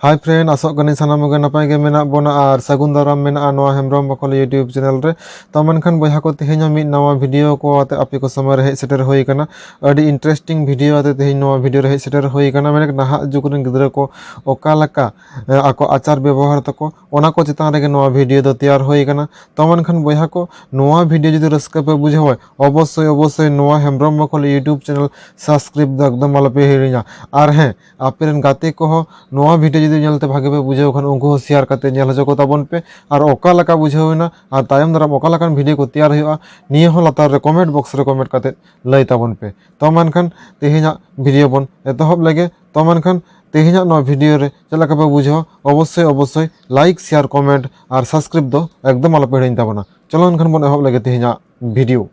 ᱦᱟᱭ friend ᱟᱥᱚᱜ ᱠᱟᱹᱱᱟᱹᱧ ᱥᱟᱱᱟᱢ ᱠᱚᱜᱮ ᱱᱟᱯᱟᱭ ᱜᱮ ᱢᱮᱱᱟᱜ ᱵᱚᱱᱟ ᱟᱨ ᱥᱟᱹᱜᱩᱱ ᱫᱟᱨᱟᱢ ᱢᱮᱱᱟᱜᱼᱟ ᱱᱚᱣᱟ ᱦᱮᱢᱵᱨᱚᱢ ᱵᱟᱠᱚᱞ ᱤᱭᱩᱴᱤᱭᱩᱵᱽ ᱪᱮᱱᱮᱞ ᱨᱮ ᱛᱚ ᱢᱮᱱᱠᱷᱟᱱ ᱵᱚᱭᱦᱟ ᱠᱚ ᱛᱮᱦᱮᱧ ᱦᱚᱸ ᱢᱤᱫ ᱱᱟᱣᱟ ᱵᱷᱤᱰᱤᱭᱳ ᱠᱚ ᱟᱛᱮ ᱟᱯᱮ ᱠᱚ ᱥᱚᱢᱚᱭ ᱨᱮ ᱦᱮᱡ ᱥᱮᱴᱮᱨ ᱦᱩᱭ ᱟᱠᱟᱱᱟ ᱟᱹᱰᱤ ᱤᱱᱴᱟᱨᱮᱥᱴᱤᱝ ᱵᱷᱤᱰᱤᱭᱳ ᱟᱛᱮ ᱛᱮᱦᱮᱧ ᱱᱚᱣᱟ ᱵᱷᱤᱰᱤᱭᱳ ᱨᱮ ᱦᱮᱡ ᱥᱮᱴᱮᱨ ᱦᱩᱭ ᱟᱠᱟᱱᱟ ᱢᱮᱱᱮᱠ ᱱᱟᱦᱟᱜ ᱡᱩᱜᱽ ᱨᱮᱱ ᱜᱤᱫᱽᱨᱟᱹ ᱠᱚ ᱚᱠᱟ ᱞᱮᱠᱟ ᱟᱠᱚ ᱟᱪᱟᱨ ᱵᱮᱵᱚᱦᱟᱨ ᱛᱟᱠᱚ ᱚᱱᱟ ᱠᱚ ᱪᱮᱛᱟᱱ ᱨᱮᱜᱮ ᱱᱚᱣᱟ ᱵᱷᱤᱰᱤᱭᱳ ᱫᱚ ᱛᱮᱭᱟᱨ ᱦᱩᱭ ᱟᱠᱟᱱᱟ ᱛᱚ ᱢᱮᱱᱠᱷᱟᱱ ᱵᱚᱭᱦᱟ ᱠᱚ ᱱᱚᱣᱟ ᱵᱷᱤᱰᱤᱭᱳ ᱡᱩᱫᱤ ᱨᱟᱹᱥᱠᱟᱹ ᱯᱮ ᱵᱩᱡᱷᱟᱹᱣᱟ ᱚᱵᱚᱥᱥᱳᱭ ᱚᱵᱚᱥᱥᱳᱭ ᱱᱚᱣᱟ ᱦᱮᱢᱵᱨᱚᱢ ᱵᱟᱠᱚᱞ ᱤᱭᱩᱴᱤᱭᱩᱵᱽ ᱪᱮᱱᱮᱞ ᱥᱟᱵᱥᱠᱨᱟᱭᱤᱵᱽ ᱫᱚ ᱮᱠᱫᱚᱢ ᱟᱞᱚᱯᱮ ᱦᱤᱲᱤᱧᱟ ᱟᱨ ᱦᱮᱸ ᱟᱯᱮ ᱨᱮᱱ ᱜᱟᱛᱮ ᱠᱚᱦᱚᱸ ᱱᱚᱣᱟ ᱵᱷᱤᱰᱭᱳ ᱡᱩᱫᱤ ᱧᱮᱞᱛᱮ ᱵᱷᱟᱜᱮ ᱯᱮ ᱵᱩᱡᱷᱟᱹᱣ ᱠᱷᱟᱱ ᱩᱱᱠᱩ ᱦᱚᱸ ᱥᱮᱭᱟᱨ ᱠᱟᱛᱮ ᱧᱮᱞ ᱦᱚᱪᱚ ᱠᱚᱛᱟ ᱵᱚᱱ ᱯᱮ ᱟᱨ ᱚᱠᱟ ᱞᱮᱠᱟ ᱵᱩᱡᱷᱟᱹᱣ ᱮᱱᱟ ᱟᱨ ᱛᱟᱭᱚᱢ ᱫᱟᱨᱟᱢ ᱚᱠᱟ ᱞᱮᱠᱟᱱ ᱵᱷᱤᱰᱭᱳ ᱠᱚ ᱛᱮᱭᱟᱨ ᱦᱩᱭᱩᱜᱼᱟ ᱱᱤᱭᱟᱹ ᱦᱚᱸ ᱞᱟᱛᱟᱨ ᱨᱮ ᱠᱚᱢᱮᱱᱴ ᱵᱚᱠᱥ ᱨᱮ ᱠᱚᱢᱮᱱᱴ ᱠᱟᱛᱮ ᱞᱟᱹᱭ ᱛᱟᱵᱚᱱ ᱯᱮ ᱛᱚ ᱢᱟ ᱮᱱᱠᱷᱟᱱ ᱛᱮᱦᱮᱧᱟᱜ ᱵᱷᱤᱰᱭᱳ ᱵᱚᱱ ᱮᱛᱚᱦᱚᱵ ᱞᱮᱜᱮ ᱛᱚ ᱢᱟ ᱮᱱᱠᱷᱟᱱ ᱛᱮᱦᱮᱧᱟᱜ ᱱᱚᱣᱟ ᱵᱷᱤᱰᱭᱳ ᱨᱮ ᱪᱮᱫ ᱞᱮᱠᱟ ᱯᱮ ᱵᱩᱡᱷᱟᱹᱣᱟ ᱚᱵᱚᱥᱥᱳᱭ ᱚᱵᱚᱥᱥᱳᱭ ᱞᱟᱭᱤᱠ ᱥᱮᱭᱟᱨ ᱠᱚᱢᱮᱱᱴ ᱟᱨ ᱥᱟᱵᱥᱠᱨᱟᱭᱤᱵ ᱫᱚ ᱮᱠᱫᱚᱢ ᱟᱞᱚᱯᱮ ᱦᱤᱲᱤᱧ ᱛᱟᱵᱚᱱᱟ ᱪᱚᱞᱚ ᱮᱱᱠᱷᱟᱱ ᱵᱚᱱ ᱮᱦᱚᱵ ᱞᱮᱜᱮ ᱛᱮᱦᱮᱧᱟᱜ ভিডিঅ'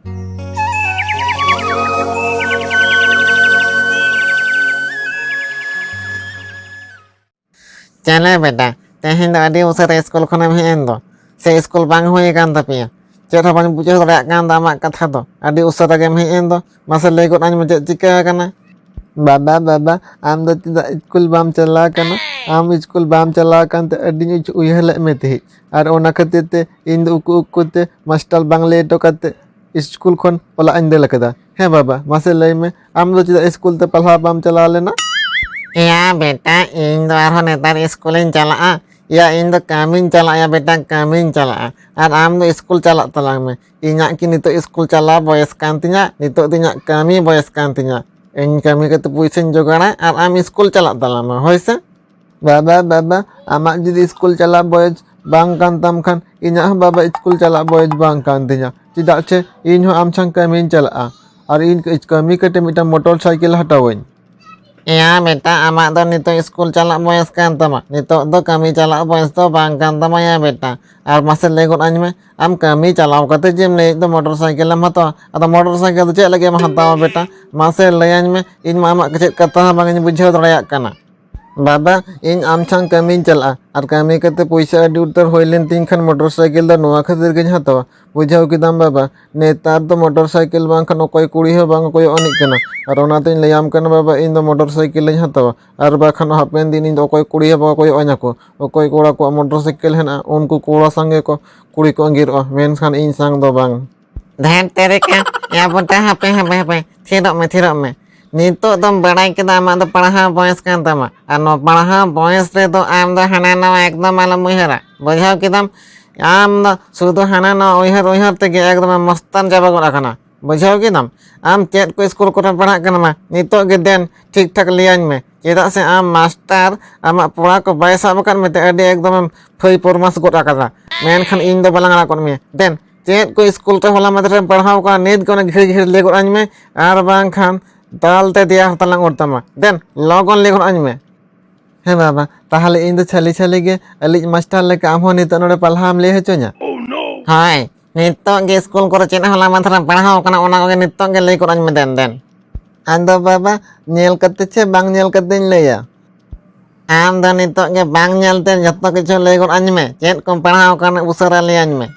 ᱪᱮᱞᱮ ᱵᱮᱴᱟ ᱛᱮᱦᱮᱧ ᱫᱚ ᱟᱹᱰᱤ ᱩᱥᱟᱹᱨᱟ ᱥᱠᱩᱞ ᱠᱷᱚᱱᱮᱢ ᱦᱮᱡ ᱮᱱ ᱫᱚ ᱥᱮ ᱥᱠᱩᱞ ᱵᱟᱝ ᱦᱩᱭ ᱟᱠᱟᱱ ᱛᱟᱯᱮᱭᱟ ᱪᱮᱫ ᱦᱚᱸ ᱵᱟᱹᱧ ᱵᱩᱡᱷᱟᱹᱣ ᱫᱟᱲᱮᱭᱟᱜ ᱠᱟᱱ ᱫᱚ ᱟᱢᱟᱜ ᱠᱟᱛᱷᱟ ᱫᱚ ᱟᱹᱰᱤ ᱩᱥᱟᱹᱨᱟ ᱜᱮᱢ ᱦᱮᱡ ᱮᱱ ᱫᱚ ᱢᱟᱥᱮ ᱞᱟᱹᱭ ᱜᱚᱫ ᱟᱹᱧ ᱢᱮ ᱪᱮᱫ ᱪᱤᱠᱟᱹ ᱟᱠᱟᱱᱟ ᱵᱟᱵᱟ ᱵᱟᱵᱟ ᱟᱢ ᱫᱚ ᱪᱮᱫᱟᱜ ᱤᱥᱠᱩᱞ ᱵᱟᱢ ᱪᱟᱞᱟᱣ ᱟᱠᱟᱱᱟ ᱟᱢ ᱤᱥᱠᱩᱞ ᱵᱟᱢ ᱪᱟᱞᱟᱣ ᱟᱠᱟᱱ ᱛᱮ ᱟᱹᱰᱤᱧ ᱩᱭᱦᱟᱹᱨ ᱞᱮᱫ ᱢᱮ ᱛᱟᱦᱮᱸᱫ ᱟᱨ ᱚᱱᱟ ᱠᱷᱟᱹᱛᱤᱨ ᱛᱮ ᱤᱧ ᱫᱚ ᱩᱠᱩ ᱩᱠᱩ ᱛᱮ ᱢᱟᱥᱴᱟᱨ ᱵᱟᱝ ᱞᱟᱹᱭ ᱦᱚᱴᱚ ᱠᱟᱛᱮ ᱤᱥᱠᱩᱞ ᱠᱷᱚᱱ ᱚᱲᱟᱜ ᱤᱧ ᱫᱟᱹᱲ ᱟᱠᱟᱫᱟ ᱦᱮᱸ ᱵᱟᱵᱟ ᱢᱟᱥᱮ ᱞᱟᱹᱭ ᱢᱮ ᱟᱢ ᱫᱚ ᱪᱮᱫᱟᱜ ᱤᱥᱠᱩᱞ ᱛᱮ ᱯᱟᱲᱦᱟᱣ ᱵᱟᱢ ᱪᱟᱞᱟᱣ ᱞᱮᱱᱟ ᱮᱭᱟ ᱵᱮᱴᱟ ᱤᱧ ᱫᱚ ᱟᱨᱦᱚᱸ ᱱᱮᱛᱟᱨ ᱤᱥᱠᱩᱞᱤᱧ ᱪᱟᱞᱟᱜᱼᱟ ᱮᱭᱟ ᱤᱧ ᱫᱚ ᱠᱟᱹᱢᱤᱧ ᱪᱟᱞᱟᱜᱼᱟ ᱵᱮᱴᱟ ᱠᱟᱹᱢᱤᱧ ᱪᱟᱞᱟᱜᱼᱟ ᱟᱨ ᱟᱢ ᱫᱚ ᱤᱥᱠᱩᱞ ᱪᱟᱞᱟᱜ ᱛᱟᱞᱟᱝ ᱢᱮ ᱤᱧᱟᱹᱜ ᱠᱤ ᱱᱤᱛᱚᱜ ᱥᱠᱩᱞ ᱪᱟᱞᱟᱣ ᱵᱚᱭᱮᱥ ᱠᱟᱱ ᱛᱤᱧᱟᱹ ᱱᱤᱛᱚᱜ ᱫᱚ ᱤᱧᱟᱹᱜ ᱠᱟᱹᱢᱤ ᱵᱚᱭᱮᱥ ᱠᱟᱱ ᱛᱤᱧᱟᱹ ᱤᱧ ᱠᱟᱹᱢᱤ ᱠᱟᱛᱮ ᱯᱩᱭᱥᱟᱹᱧ ᱡᱚᱜᱟᱲᱟ ᱟᱨ ᱟᱢ ᱥᱠᱩᱞ ᱪᱟᱞᱟᱜ ᱛᱟᱞᱟᱝ ᱢᱮ ᱦᱳᱭ ᱥᱮ ᱵᱟᱵᱟ ᱵᱟᱵᱟ ᱟᱢᱟᱜ ᱡᱩᱫᱤ ᱥᱠᱩᱞ ᱪᱟᱞᱟᱜ ᱵᱚᱭᱮᱥ ᱵᱟᱝ ᱠᱟᱱ ᱛᱟᱢ ᱠᱷᱟᱱ ᱤᱧᱟᱹᱜ ᱦᱚᱸ ᱵᱟᱵᱟ ᱥᱠᱩᱞ ᱪᱟᱞᱟᱜ ᱵᱚᱭᱮᱥ ᱵᱟᱝ ᱠᱟᱱ ᱛᱤᱧᱟᱹ ᱪᱮᱫᱟᱜ ᱥᱮ ᱤᱧ ᱦᱚᱸ ᱟᱢ ᱥᱟᱶ ᱠᱟᱹᱢᱤᱧ ᱪᱟᱞᱟᱜᱼᱟ ᱟᱨ ᱤᱧ ᱠᱟᱹᱢᱤ ᱠᱟᱛᱮ ᱢᱤᱫᱴᱟᱝ ᱢᱚᱴᱚᱨ ᱥᱟᱭᱠᱮᱞ ᱦᱟᱛᱟᱣᱟᱹᱧ ᱮᱭᱟ ᱵᱮᱴᱟ ᱟᱢᱟᱜ ᱫᱚ ᱱᱤᱛᱚᱜ ᱤᱥᱠᱩᱞ ᱪᱟᱞᱟᱜ ᱵᱚᱭᱮᱥ ᱠᱟᱱ ᱛᱟᱢᱟ ᱱᱤᱛᱚᱜ ᱫᱚ ᱠᱟᱹᱢᱤ ᱪᱟᱞᱟᱜ ᱵᱚᱭᱮᱥ ᱫᱚ ᱵᱟᱝ ᱠᱟᱱ ᱛᱟᱢᱟ ᱭᱟ ᱵᱮᱴᱟ ᱟᱨ ᱢᱟᱥᱮ ᱞᱟᱹᱭ ᱜᱚᱫ ᱟᱹᱧ ᱢᱮ ᱟᱢ ᱠᱟᱹᱢᱤ ᱪᱟᱞᱟᱣ ᱠᱟᱛᱮ ᱡᱮᱢ ᱞᱟᱹᱭᱮᱫ ᱫᱚ ᱢᱚᱴᱚᱨ ᱥᱟᱭᱠᱮᱞ ᱮᱢ ᱦᱟᱛᱟᱣᱟ ᱟᱫᱚ ᱢᱚᱴᱚᱨ ᱥᱟᱭᱠᱮᱞ ᱫᱚ ᱪᱮᱫ ᱞᱟᱹᱜᱤᱫ ᱮᱢ ᱦᱟᱛᱟᱣᱟ ᱵᱮᱴᱟ ᱢᱟᱥᱮ ᱞᱟᱹᱭ ᱟᱹᱧ ᱢᱮ ᱤᱧ ᱢᱟ ᱟᱢᱟᱜ ᱪᱮᱫ ᱠᱟᱛᱷᱟ ᱦᱚᱸ ᱵᱟᱝᱤᱧ ᱵᱩᱡᱷᱟᱹᱣ ᱫᱟᱲᱮᱭᱟᱜ ᱠᱟᱱᱟ ᱵᱟᱵᱟ ᱤᱧ ᱟᱢ ᱴᱷᱮᱱ ᱠᱟᱹᱢᱤᱧ ᱪᱟᱞᱟᱜᱼᱟ ᱟᱨ ᱠᱟᱹᱢᱤ ᱠᱟᱛᱮ ᱯᱚᱭᱥᱟ ᱟᱹᱰᱤ ᱩᱛᱟᱹᱨ ᱦᱩᱭ ᱞᱮᱱ ᱛᱤᱧ ᱠᱷᱟᱱ ᱢᱚᱴᱚᱨ ᱥᱟᱭᱠᱮᱞ ᱫᱚ ᱱᱚᱣᱟ ᱠᱷᱟᱹᱛᱤᱨ ᱜᱤᱧ ᱦᱟᱛᱟᱣᱟ ᱵᱩᱡᱷᱟᱹᱣ ᱠᱮᱫᱟᱢ ᱵᱟᱵᱟ ᱱᱮᱛᱟᱨ ᱫᱚ ᱢᱚᱴᱚᱨ ᱥᱟᱭᱠᱮᱞ ᱵᱟᱝᱠᱷᱟᱱ ᱚᱠᱚᱭ ᱠᱩᱲᱤ ᱦᱚᱸ ᱵᱟᱝ ᱠᱚᱭᱚᱜ ᱟᱹᱱᱤᱡ ᱠᱟᱱᱟ ᱟᱨ ᱚᱱᱟᱛᱮᱧ ᱞᱟᱹᱭᱟᱢ ᱠᱟᱱᱟ ᱵᱟᱵᱟ ᱤᱧ ᱫᱚ ᱢᱚᱴᱚᱨ ᱥᱟᱭᱠᱮᱞᱤᱧ ᱦᱟᱛᱟᱣᱟ ᱟᱨ ᱵᱟᱠᱷᱟᱱ ᱦᱟᱯᱮᱱ ᱫᱤᱱ ᱤᱧ ᱫᱚ ᱚᱠᱚᱭ ᱠᱩᱲᱤ ᱦᱚᱸ ᱵᱟᱠᱚ ᱠᱚᱭᱚᱜ ᱟᱹᱧᱟ ᱠᱚ ᱚᱠᱚᱭ ᱠᱚᱲᱟ ᱠᱚᱣᱟᱜ ᱢᱚᱴᱚᱨ ᱥᱟᱭᱠᱮᱞ ᱦᱮᱱᱟᱜᱼᱟ ᱩᱱᱠᱩ ᱠᱚᱲᱟ ᱥᱟᱝᱜᱮ ᱠᱚ ᱠᱩᱲᱤ ᱠᱚ ᱟᱺᱜᱤᱨᱚᱜᱼᱟ ᱢᱮᱱᱠᱷᱟᱱ ᱤᱧ ᱥᱟᱝ ᱫᱚ ᱵᱟᱝ ᱫᱷᱮᱴ ᱛᱮᱨᱤᱠᱟ ᱮᱭᱟ ᱵᱚᱱᱴᱟ ᱦᱟᱯᱮ ᱦᱟᱯᱮ ᱦᱟᱯᱮ ᱛᱷᱤᱨᱚᱜ ᱢᱮ ᱛᱷᱤᱨᱚᱜ ᱢᱮ ᱱᱤᱛᱚᱜ ᱫᱚᱢ ᱵᱟᱲᱟᱭ ᱠᱮᱫᱟ ᱟᱢᱟᱜ ᱫᱚ ᱯᱟᱲᱦᱟᱣ ᱵᱚᱭᱮᱥ ᱠᱟᱱ ᱛᱟᱢᱟ ᱟᱨ ᱱᱚᱣᱟ ᱯᱟᱲᱦᱟᱣ ᱵᱚᱭᱮᱥ ᱨᱮᱫᱚ ᱟᱢ ᱫᱚ ᱦᱟᱱᱟ ᱱᱟᱣᱟ ᱮᱠᱫᱚᱢ ᱟᱞᱚᱢ ᱩᱭᱦᱟᱹᱨᱟ ᱵᱩᱡᱷᱟᱹᱣ ᱠᱮᱫᱟᱢ ᱟᱢ ᱫᱚ ᱥᱩᱫᱷᱩ ᱦᱟᱱᱟ ᱱᱟᱣᱟ ᱩᱭᱦᱟᱹᱨ ᱩᱭᱦᱟᱹᱨ ᱛᱮᱜᱮ ᱮᱠᱫᱚᱢ ᱢᱚᱥᱛᱟᱱ ᱪᱟᱵᱟ ᱜᱚᱫ ᱟᱠᱟᱱᱟ ᱵᱩᱡᱷᱟᱹᱣ ᱠᱮᱫᱟᱢ ᱟᱢ ᱪᱮᱫ ᱠᱚ ᱥᱠᱩᱞ ᱠᱚᱨᱮ ᱯᱟᱲᱦᱟᱜ ᱠᱟᱱᱟ ᱢᱟ ᱱᱤᱛᱚᱜ ᱜᱮ ᱫᱮᱱ ᱴᱷᱤᱠ ᱴᱷᱟᱠ ᱞᱟᱹᱭᱟᱹᱧ ᱢᱮ ᱪᱮᱫᱟᱜ ᱥᱮ ᱟᱢ ᱢᱟᱥᱴᱟᱨ ᱟᱢᱟᱜ ᱯᱚᱲᱟ ᱠᱚ ᱵᱟᱭ ᱥᱟᱵ ᱟᱠᱟᱫ ᱢᱮᱛᱮ ᱟᱹᱰᱤ ᱮᱠᱫᱚᱢᱮᱢ ᱯᱷᱟᱹᱭ ᱯᱚᱨᱢᱟᱥ ᱜᱚᱫ ᱟᱠᱟᱫᱟ ᱢᱮᱱᱠᱷᱟᱱ ᱤᱧ ᱫᱚ ᱵᱟᱞᱟᱝ ᱟᱲᱟᱜ ᱜᱚᱫ ᱢᱮᱭᱟ ᱫᱮᱱ ᱪᱮᱫ ᱠᱚ ᱥᱠᱩᱞ ᱛᱮ ᱦᱚᱞᱟ ᱢᱟᱫᱷᱮᱨ ᱨᱮᱢ ᱯᱟᱲᱦᱟᱣ ᱠᱟᱱᱟ ᱱᱤᱛ ᱜᱮ ᱚᱱᱟ ᱜᱷᱤᱲ ᱜᱷᱤᱲ ᱞᱟᱹᱭ ᱜᱚᱫ ᱟᱹᱧ ᱢᱮ ᱟᱨ ᱵᱟᱝᱠᱷᱟᱱ ᱫᱟᱞ ᱛᱮ ᱫᱮᱭᱟ ᱦᱟᱛᱟᱝ ᱞᱟᱝ ᱚᱨ ᱛᱟᱢᱟ ᱫᱮᱱ ᱞᱚᱜᱚᱱ ᱞᱟᱹᱭ ᱜᱚᱫ ᱟᱹᱧ ᱢᱮ ᱦᱮᱸ ᱵᱟᱵᱟ ᱛᱟᱦᱚᱞᱮ ᱤᱧ ᱫᱚ ᱪᱷᱟᱹᱞᱤ ᱪᱷᱟᱹᱞᱤ ᱜᱮ ᱟᱹᱞᱤᱡ ᱢᱟᱥᱴᱟᱨ ᱞᱮᱠᱟ ᱟᱢ ᱦᱚᱸ ᱱᱤᱛᱚᱜ ᱱᱚᱰᱮ ᱯᱟᱞᱦᱟᱢ ᱞᱟᱹᱭ ᱦᱚᱪᱚᱧᱟ ᱦᱳᱭ ᱱᱤᱛᱚᱜ ᱜᱮ ᱥᱠᱩᱞ ᱠᱚᱨᱮ ᱪᱮᱫ ᱦᱚᱞᱟ ᱢᱟᱫᱷᱮᱨ ᱨᱮᱢ ᱯᱟᱲᱦᱟᱣ ᱠᱟᱱᱟ ᱚᱱᱟ ᱠᱚᱜᱮ ᱱᱤᱛᱚᱜ ᱜᱮ ᱞᱟᱹᱭ ᱜᱚᱫ ᱟᱹᱧ ᱢᱮ ᱫᱮᱱ ᱫᱮᱱ ᱟᱫᱚ ᱵᱟᱵᱟ ᱧᱮᱞ ᱠᱟᱛᱮ ᱪᱮ ᱵᱟᱝ ᱧᱮᱞ ᱠᱟᱛᱮᱧ ᱞᱟᱹᱭᱟ ᱟᱢ ᱫᱚ ᱱᱤᱛᱚᱜ ᱜᱮ ᱵᱟᱝ ᱧᱮᱞᱛᱮ ᱡᱚᱛᱚ ᱠᱤᱪᱷᱩ ᱞᱟᱹᱭ ᱜᱚᱫ ᱟᱹᱧ ᱢᱮ ᱪᱮᱫ ᱠᱚᱢ ᱯᱟᱲᱦᱟᱣ ᱟᱠᱟᱱᱟ ᱩᱥᱟᱹᱨᱟ ᱞᱟᱹᱭ ᱟᱹᱧ ᱢᱮ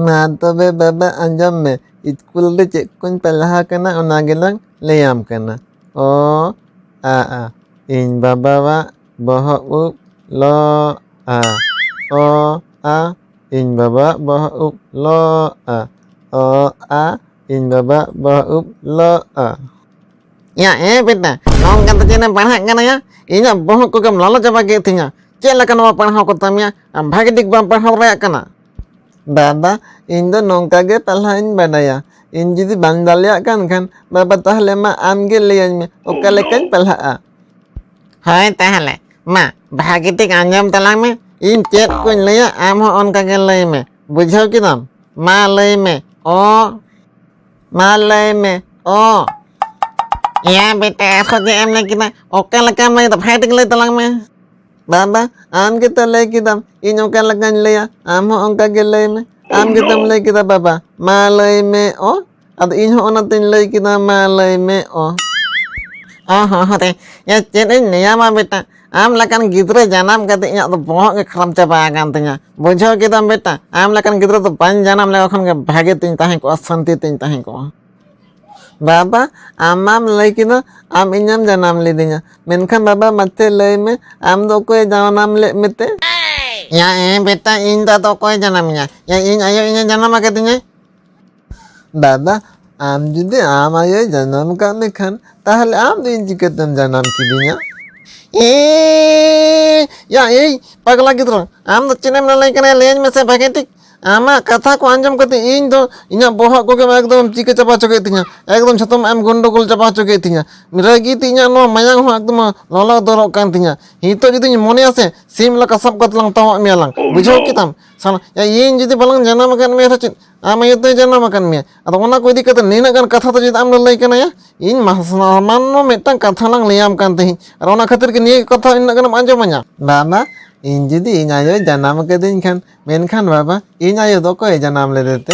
ᱢᱟ ᱛᱚᱵᱮ ᱵᱟᱵᱟ ᱟᱸᱡᱚᱢ ᱢᱮ ᱤᱥᱠᱩᱞ ᱨᱮ ᱪᱮᱫ ᱠᱚᱧ ᱯᱟᱲᱦᱟᱣ ᱟᱠᱟᱱᱟ ᱚᱱᱟ ᱜᱮᱞᱟᱝ ᱞᱟᱹᱭᱟᱢ ᱠᱟᱱᱟ ᱚ ᱟ ᱟ ᱤᱧ ᱵᱟᱵᱟᱣᱟᱜ ᱵᱚᱦᱚᱜ ᱩᱵ ᱞᱚ ᱟ ᱚ ᱟ ᱤᱧ ᱵᱟᱵᱟᱣᱟᱜ ᱵᱚᱦᱚᱜ ᱩᱵ ᱞᱚ ᱟ ᱚ ᱟ ᱤᱧ ᱵᱟᱵᱟᱣᱟᱜ ᱵᱚᱦᱚᱜ ᱩᱵ ᱞᱚ ᱟ ᱭᱟ ᱮ ᱵᱮᱴᱟ ᱱᱚᱝᱠᱟ ᱫᱚ ᱪᱮᱫ ᱮᱢ ᱯᱟᱲᱦᱟᱜ ᱠᱟᱱᱟ ᱭᱟ ᱤᱧᱟᱹᱜ ᱵᱚᱦᱚᱜ ᱠᱚᱜᱮᱢ ᱞᱚᱞᱚ ᱪᱟᱵᱟ ᱠᱮᱫ ᱛᱤᱧᱟ ᱪᱮᱫ ᱞᱮᱠᱟ ᱱᱚᱣᱟ ᱯᱟᱲᱦᱟᱣ ᱠᱚ ᱛᱟᱢᱭᱟ ᱟᱢ ᱵᱷᱟᱜᱮ ᱴᱷᱤᱠ ᱵᱟᱢ ᱯᱟᱲᱦᱟᱣ ᱫᱟᱲᱮᱭᱟᱜ ᱠᱟᱱᱟ ᱫᱟᱫᱟ ᱤᱧ ᱫᱚ ᱱᱚᱝᱠᱟ ᱜᱮ ᱯᱟᱲᱦᱟᱣ ᱤᱧ ᱵᱟᱰᱟᱭᱟ ᱤᱧ ᱡᱩᱫᱤ ᱵᱟᱝ ᱫᱟᱲᱮᱭᱟᱜ ᱠᱟᱱ ᱠᱷᱟᱱ ᱵᱟᱵᱟ ᱛᱟᱦᱞᱮ ᱢᱟ ᱟᱢ ᱜᱮ ᱞᱟᱹᱭᱟᱹᱧ ᱢᱮ ᱚᱠᱟ ᱞᱮᱠᱟᱧ ᱯᱟᱲᱦᱟᱜᱼᱟ ᱦᱳᱭ ᱛᱟᱦᱞᱮ ᱢᱟ ᱵᱷᱟᱜᱮ ᱴᱷᱤᱠ ᱟᱸᱡᱚᱢ ᱛᱟᱞᱟᱝ ᱢᱮ ᱤᱧ ᱪᱮᱫ ᱠᱚᱧ ᱞᱟᱹᱭᱟ ᱟᱢ ᱦᱚᱸ ᱚᱱᱠᱟ ᱜᱮ ᱞᱟᱹᱭ ᱢᱮ ᱵᱩᱡᱷᱟᱹᱣ ᱠᱮᱫᱟᱢ ᱢᱟ ᱞᱟᱹᱭ ᱢᱮ ᱚ ᱢᱟ ᱞᱟᱹᱭ ᱢᱮ ᱚ ᱭᱟ ᱵᱮᱴᱟ ᱟᱨᱦᱚᱸ ᱡᱮ ᱮᱢ ᱞᱟᱹᱭ ᱠᱮᱫᱟ ᱚᱠᱟ ᱞᱮᱠᱟᱢ ᱞᱟᱹᱭ ᱫᱟ ᱵᱷᱟᱜᱮ ᱴᱷᱤᱠ ᱞᱟᱹᱭ ᱛᱟᱞᱟᱝ ᱢᱮ ᱵᱟᱵᱟ ᱟᱢ ᱜᱮᱛᱚ ᱞᱟᱹᱭ ᱠᱮᱫᱟᱢ ᱤᱧ ᱚᱠᱟ ᱞᱮᱠᱟᱧ ᱞᱟᱹᱭᱟ ᱟᱢ ᱦᱚᱸ ᱚᱱᱠᱟ ᱜᱮ ᱞᱟᱹᱭ ᱢᱮ ᱟᱢ ᱜᱮᱛᱚᱢ ᱞᱟᱹᱭ ᱠᱮᱫᱟ ᱵᱟᱵᱟ ᱢᱟ ᱞᱟᱹᱭ ᱢᱮ ᱚ ᱟᱫᱚ ᱤᱧ ᱦᱚᱸ ᱚᱱᱟᱛᱮᱧ ᱞᱟᱹᱭ ᱠᱮᱫᱟ ᱢᱟ ᱞᱟᱹᱭ ᱢᱮ ᱚ ᱚ ᱦᱚᱸ ᱦᱚᱸ ᱨᱮ ᱪᱮᱫ ᱤᱧ ᱞᱟᱹᱭᱟᱢᱟ ᱵᱮᱴᱟ ᱟᱢ ᱞᱮᱠᱟᱱ ᱜᱤᱫᱽᱨᱟᱹ ᱡᱟᱱᱟᱢ ᱠᱟᱛᱮ ᱤᱧᱟᱹᱜ ᱫᱚ ᱵᱚᱦᱚᱜ ᱜᱮ ᱠᱷᱟᱨᱟᱯ ᱪᱟᱵᱟ ᱟᱠᱟᱱ ᱛᱤᱧᱟ ᱵᱩᱡᱷᱟᱹᱣ ᱠᱮᱫᱟᱢ ᱵᱮᱴᱟ ᱟᱢ ᱞᱮᱠᱟᱱ ᱜᱤᱫᱽᱨᱟᱹ ᱫᱚ ᱵᱟᱹᱧ ᱡᱟᱱᱟᱢ ᱞᱮᱠᱚ ᱠᱷᱟᱱ ᱜᱮ ᱵᱷᱟᱜᱮ ᱛᱤᱧ ᱛᱟᱦᱮᱸ ᱠᱚᱜᱼᱟ ᱥᱟᱱᱛᱤ ᱛᱤᱧ ᱛᱟᱦᱮᱸ ᱠᱚᱜᱼᱟ ᱵᱟᱵᱟ ᱟᱢᱟᱢ ᱞᱟᱹᱭ ᱠᱮᱫᱟ ᱟᱢ ᱤᱧᱮᱢ ᱡᱟᱱᱟᱢ ᱞᱤᱫᱤᱧᱟ ᱢᱮᱱᱠᱷᱟᱱ ᱵᱟᱵᱟ ᱢᱟᱛᱮ ᱞᱟᱹᱭ ᱢᱮ ᱟᱢ ᱫᱚ ᱚᱠᱚᱭ ᱡᱟᱱᱟᱢ ᱞᱮᱫ ᱢᱮᱛᱮ ᱭᱟ ᱮ ᱵᱮᱴᱟ ᱤᱧ ᱫᱚ ᱟᱫᱚ ᱚᱠᱚᱭ ᱡᱟᱱᱟᱢᱤᱧᱟ ᱭᱟ ᱤᱧ ᱟᱭᱳ ᱤᱧᱮ ᱡᱟᱱᱟᱢ ᱟᱠᱟᱫᱤᱧᱟᱭ ᱫᱟᱫᱟ ᱟᱢ ᱡᱩᱫᱤ ᱟᱢ ᱟᱭᱳᱭ ᱡᱟᱱᱟᱢ ᱠᱟᱜ ᱢᱮ ᱠᱷᱟᱱ ᱛᱟᱦᱚᱞᱮ ᱟᱢ ᱫᱚ ᱤᱧ ᱪᱤᱠᱟᱹᱛᱮᱢ ᱡᱟᱱᱟᱢ ᱠᱤᱫᱤᱧᱟ ᱮ ᱭᱟ ᱮᱭ ᱯᱟᱜᱽᱞᱟ ᱜᱤᱫᱽᱨᱟᱹ ᱟᱢ ᱫᱚ ᱪᱮᱫ ᱮᱢ ᱞᱟᱹᱞᱟᱹᱭ ᱠᱟᱱᱟ ᱞᱟᱹᱭᱟᱹᱧ ᱢᱮᱥᱮ ᱵᱷᱟᱜᱮ ᱴᱷᱤᱠ ᱟᱢᱟᱜ ᱠᱟᱛᱷᱟ ᱠᱚ ᱟᱸᱡᱚᱢ ᱠᱟᱛᱮ ᱤᱧ ᱫᱚ ᱤᱧᱟᱹᱜ ᱵᱚᱦᱚᱜ ᱠᱚᱜᱮ ᱮᱠᱫᱚᱢ ᱪᱤᱠᱟᱹ ᱪᱟᱵᱟ ᱦᱚᱪᱚ ᱠᱮᱫ ᱛᱤᱧᱟ ᱮᱠᱫᱚᱢ ᱡᱷᱚᱛᱚᱢ ᱮᱢ ᱜᱚᱱᱰᱚᱜᱳᱞ ᱪᱟᱵᱟ ᱦᱚᱪᱚ ᱠᱮᱫ ᱛᱤᱧᱟ ᱨᱟᱹᱜᱤ ᱛᱮ ᱤᱧᱟᱹᱜ ᱱᱚᱣᱟ ᱢᱟᱭᱟᱝ ᱦᱚᱸ ᱮᱠᱫᱚᱢ ᱞᱚᱞᱚ ᱫᱚᱨᱚᱜ ᱠᱟᱱ ᱛᱤᱧᱟ ᱱᱤᱛᱚᱜ ᱡᱩᱫᱤᱧ ᱢᱚᱱᱮᱭᱟ ᱥᱮ ᱥᱤᱢ ᱞᱮᱠᱟ ᱥᱟᱵ ᱠᱟᱛᱮ ᱞᱟᱝ ᱛᱟᱣᱟᱜ ᱢᱮᱭᱟ ᱞᱟᱝ ᱵᱩᱡᱷᱟᱹᱣ ᱠᱮᱫᱟᱢ ᱥᱟᱞᱟ ᱤᱧ ᱡᱩᱫᱤ ᱵᱟᱞᱟᱝ ᱡᱟᱱᱟᱢ ᱟᱠᱟᱫ ᱢᱮᱭᱟ ᱥᱮ ᱪᱮᱫ ᱟᱢ ᱟᱭᱳ ᱫᱚᱭ ᱡᱟᱱᱟᱢ ᱟᱠᱟᱱ ᱢᱮᱭᱟ ᱟᱫᱚ ᱚᱱᱟ ᱠᱚ ᱤᱫᱤ ᱠᱟᱛᱮ ᱱᱤᱱᱟᱹᱜ ᱜᱟᱱ ᱠᱟᱛᱷᱟ ᱫᱚ ᱪᱮᱫ ᱟᱢ ᱫᱚ ᱞᱟᱹᱭ ᱠᱟᱱᱟᱭᱟ ᱤᱧ ᱥᱟᱢᱟᱱᱱᱚ ᱢᱤᱫᱴᱟᱝ ᱠᱟᱛᱷᱟ ᱞᱟᱝ ᱞᱟᱹᱭᱟᱢ ᱠᱟᱱ ᱛᱟᱦᱮᱸᱫ ᱟᱨ ᱚᱱᱟ ᱠᱷᱟᱹᱛᱤᱨ ᱜᱮ ᱱᱤᱭᱟᱹ ᱠᱟᱛᱷᱟ ᱤᱱᱟᱹᱜ ᱜᱟᱱᱮᱢ ᱟᱸᱡᱚᱢᱟᱹᱧᱟ ᱵᱟᱵᱟ ᱤᱧ ᱡᱩᱫᱤ ᱤᱧ ᱟᱭᱳ ᱡᱟᱱᱟᱢ ᱠᱟᱹᱫᱤᱧ ᱠᱷᱟᱱ ᱢᱮᱱᱠᱷᱟᱱ ᱵᱟᱵᱟ ᱤᱧ ᱟᱭᱳ ᱫᱚ ᱚᱠᱚᱭ ᱡᱟᱱᱟᱢ ᱞᱮᱫᱮᱛᱮ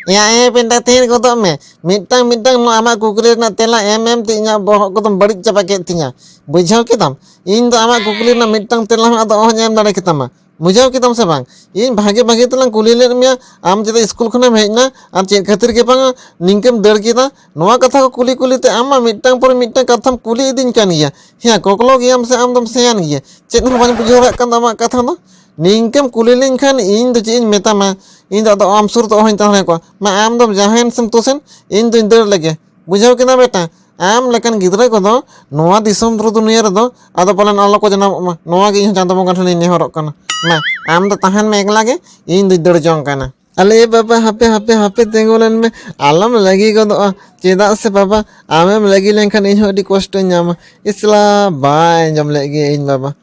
ᱮᱭᱟ ᱮ ᱯᱮᱱᱴᱟ ᱛᱷᱤᱨ ᱜᱚᱫᱚᱜ ᱢᱮ ᱢᱤᱫᱴᱟᱝ ᱢᱤᱫᱴᱟᱝ ᱱᱚᱣᱟ ᱟᱢᱟᱜ ᱠᱩᱠᱞᱤ ᱨᱮᱱᱟᱜ ᱛᱮᱞᱟ ᱮᱢ ᱮᱢ ᱛᱮ ᱤᱧᱟᱹᱜ ᱵᱚᱦᱚᱜ ᱠᱚᱫᱚᱢ ᱵᱟᱹᱲᱤᱡ ᱪᱟᱵᱟ ᱠᱮᱫ ᱛᱤᱧᱟ ᱵᱩᱡᱷᱟᱹᱣ ᱠᱮᱫᱟᱢ ᱤᱧ ᱫᱚ ᱟᱢᱟᱜ ᱠᱩᱠᱞᱤ ᱨᱮᱱᱟᱜ ᱢᱤᱫᱴᱟᱝ ᱛᱮᱞᱟ ᱦᱚᱸ ᱟᱫᱚ ᱚᱦᱚᱧ ᱮᱢ ᱫᱟᱲᱮ ᱠᱮᱛᱟᱢᱟ ᱵᱩᱡᱷᱟᱹᱣ ᱠᱮᱫᱟᱢ ᱥᱮ ᱵᱟᱝ ᱤᱧ ᱵᱷᱟᱜᱮ ᱵᱷᱟᱜᱮ ᱛᱮᱞᱟᱝ ᱠᱩᱞᱤ ᱞᱮᱫ ᱢᱮᱭᱟ ᱟᱢ ᱪᱮᱫᱟᱜ ᱥᱠᱩᱞ ᱠᱷᱚᱱᱮᱢ ᱦᱮᱡ ᱮᱱᱟ ᱟᱨ ᱪᱮᱫ ᱠᱷᱟᱹᱛᱤᱨ ᱜᱮ ᱵᱟᱝ ᱱᱤᱝᱠᱟᱹᱢ ᱫᱟᱹᱲ ᱠᱮᱫᱟ ᱱᱚᱣᱟ ᱠᱟᱛᱷᱟ ᱠᱚ ᱠᱩᱞᱤ ᱠᱩᱞᱤ ᱛᱮ ᱟᱢ ᱢᱟ ᱢᱤᱫᱴᱟᱝ ᱯᱚᱨᱮ ᱢᱤᱫᱴᱟᱝ ᱠᱟᱛᱷᱟᱢ ᱠᱩᱞᱤ ᱤᱫᱤᱧ ᱠᱟᱱ ᱜᱮᱭᱟ ᱦᱮᱸ ᱠᱚᱠᱞᱚ ᱜᱮᱭᱟᱢ ᱥᱮ ᱟᱢ ᱫᱚᱢ ᱥᱮᱭᱟᱱ ᱜᱮᱭᱟ ᱪᱮᱫ ᱦᱚᱸ ᱵᱟᱹᱧ ᱵᱩᱡᱷᱟᱹᱣ ᱫᱟᱲᱮᱭᱟᱜ ᱠᱟᱱ ᱫᱚ ᱟᱢᱟᱜ ᱠᱟᱛᱷᱟ ᱫᱚ ᱱᱤᱝᱠᱟᱹᱢ ᱠᱩᱞᱤ ᱞᱤᱧ ᱠᱷᱟᱱ ᱤᱧ ᱫᱚ ᱪᱮᱫ ᱤᱧ ᱢᱮᱛᱟᱢᱟ ᱤᱧ ᱫᱚ ᱟᱫᱚ ᱟᱢ ᱥᱩᱨ ᱫᱚ ᱚᱦᱚᱧ ᱛᱟᱦᱮᱸ ᱠᱚᱜᱼᱟ ᱢᱟ ᱟᱢ ᱫᱚᱢ ᱡᱟᱦᱟᱸᱭᱮᱱ ᱥᱮᱢ ᱛᱳᱥᱮᱱ ᱤᱧ ᱫᱚᱧ ᱫᱟᱹᱲ ᱞᱮᱜᱮ ᱵᱩᱡᱷᱟᱹᱣ ᱠᱮᱫᱟ ᱵᱮᱴᱟ ᱟᱢ ᱞᱮᱠᱟᱱ ᱜᱤᱫᱽᱨᱟᱹ ᱠᱚᱫᱚ ᱱᱚᱣᱟ ᱫᱤᱥᱚᱢ ᱨᱮ ᱫᱩᱱᱤᱭᱟᱹ ᱨᱮᱫᱚ ᱟᱫᱚ ᱯᱟᱞᱮᱱ ᱟᱞᱚ ᱠᱚ ᱡᱟᱱᱟᱢᱚᱜ ᱢᱟ ᱱᱚᱣᱟ ᱜᱮ ᱤᱧ ᱪᱟᱸᱫᱚ ᱵᱚᱸᱜᱟ ᱴᱷᱮᱱᱤᱧ ᱱᱮᱦᱚᱨᱚᱜ ᱠᱟᱱᱟ ᱢᱟ ᱟᱢ ᱫᱚ ᱛᱟᱦᱮᱱ ᱢᱮ ᱮᱠᱞᱟ ᱜᱮ ᱤᱧ ᱫᱩᱧ ᱫᱟᱹᱲ ᱡᱚᱝ ᱠᱟᱱᱟ ᱟᱞᱮ ᱵᱟᱵᱟ ᱦᱟᱯᱮ ᱦᱟᱯᱮ ᱦᱟᱯᱮ ᱛᱤᱸᱜᱩ ᱞᱮᱱ ᱢᱮ ᱟᱞᱚᱢ ᱞᱟᱹᱜᱤ ᱜᱚᱫᱚᱜᱼᱟ ᱪᱮᱫᱟᱜ ᱥᱮ ᱵᱟᱵᱟ ᱟᱢᱮᱢ ᱞᱟᱹᱜᱤ ᱞᱮᱱᱠᱷᱟᱱ ᱤᱧ ᱦᱚᱸ ᱟᱹᱰᱤ ᱠᱚᱥᱴᱚᱧ ᱧᱟᱢᱟ ᱤᱥᱞᱟ ᱵᱟᱭ ᱟᱸᱡᱚᱢ ᱞᱮᱫ ᱜᱮ ᱤᱧ ᱵᱟᱵᱟ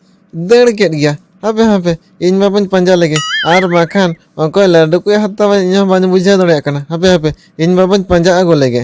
ᱫᱟᱹᱲ ᱠᱮᱫ ᱜᱮᱭᱟ ᱦᱟᱯᱮ ᱦᱟᱯᱮ ᱤᱧ ᱢᱟ ᱵᱟᱹᱧ ᱯᱟᱸᱡᱟ ᱞᱮᱜᱮ ᱟᱨ ᱵᱟᱠᱷᱟᱱ ᱚᱠᱚᱭ ᱞᱟᱹᱰᱩ ᱠᱚᱭ ᱦᱟᱛᱟᱣᱟ ᱤᱧ ᱦᱚᱸ ᱵᱟᱹᱧ ᱵᱩᱡᱷᱟᱹᱣ ᱫᱟᱲᱮᱭᱟᱜ ᱠᱟᱱᱟ ᱦᱟᱯᱮ ᱦᱟᱯᱮ ᱤᱧ ᱢᱟ ᱵᱟᱹᱧ ᱯᱟᱸᱡᱟ ᱟᱹᱜᱩ ᱞᱮᱜᱮ